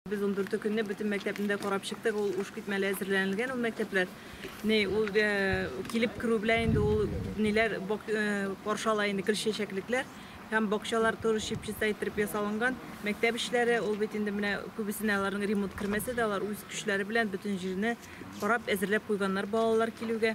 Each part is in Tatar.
Без ундүрте көнне бөтен мәктәпне дә карап чыктык, ул уш китмәле әзерләнелгән ул мәктәпләр. Ни, ул килеп керү белән инде ул ниләр каршы ала инде гөл чәчәклекләр һәм бакчалар туры чипчиста иттереп ясалынган. Мәктәп эшләре ул бит инде менә күбесенә аларның ремонт кермәсә дә, алар үз көчләре белән бөтен җирне карап әзерләп куйганнар балалар килүгә.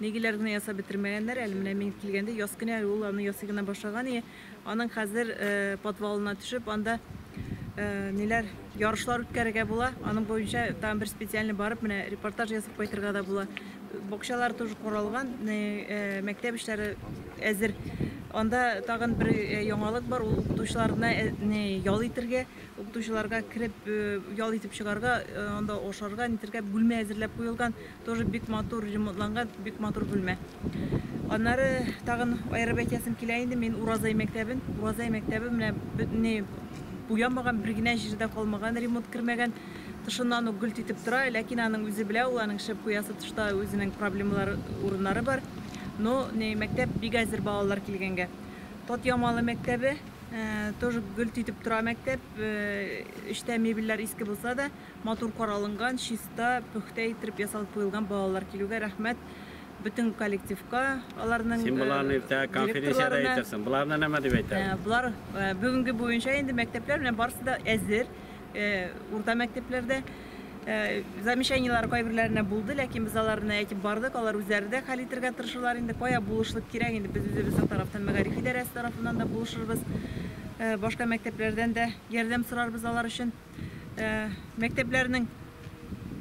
Нигеләр генә ясап бетермәгәннәр әле, менә мин килгәндә яз көне әле ул аны ясый гына башлаган ие. Аның хәзер э, подвалына төшеп, анда э, ниләр ярышлар үткәрергә була. Аның буенча там бер специальный барып, менә репортаж ясап кайтырга да була. Бакчалар тоже коралган, э, мәктәп эшләре әзер. Анда тагын бер яңалык бар, ул укытучыларына ял итергә, укытучыларга кереп ял итеп чыгарга, анда ашарга, нитергә бүлмә әзерләп куелган. Тоже бик матур ремонтланган, бик матур бүлмә. Аннары тагын аерып әйтәсем килә инде, мин Уразай мәктәбен, Уразай мәктәбе менә бөтенләй буямаган, бер генә җире дә калмаган, ремонт кермәгән. Тышыннан ук гөлт итеп тора, ләкин аның үзе белә, ул аның шәп куясы тышта үзенең проблемалар урыннары бар. Но не мәктәп бик әзер балалар килгәнгә. Тот Ямалы мәктәбе тоже гөлт итеп тора мәктәп. Эчтә мебельләр иске булса да, Матур каралынган, чиста, пөхтә иттереп ясалып куелган балалар килүгә рәхмәт бөтен коллективка, аларның Син боларны э, иртә конференциядә әйтерсең. Боларны нәмә дип әйтә? Э, болар э, бүгенге буенча инде мәктәпләр белән барысы да әзер. Урта мәктәпләрдә замечаниеләр кайберләренә булды, ләкин без аларны әйтеп бардык, алар үзләре дә хәл итәргә тырышалар инде. Кая булышлык кирәк инде без үзебез тарафтан мәгариф идарәсе тарафыннан да булышырбыз. Башка мәктәпләрдән дә ярдәм сорарбыз алар өчен. Мәктәпләрнең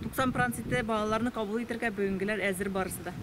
90 проценты балаларны кабул итәргә бүгенгеләр әзер барысы да.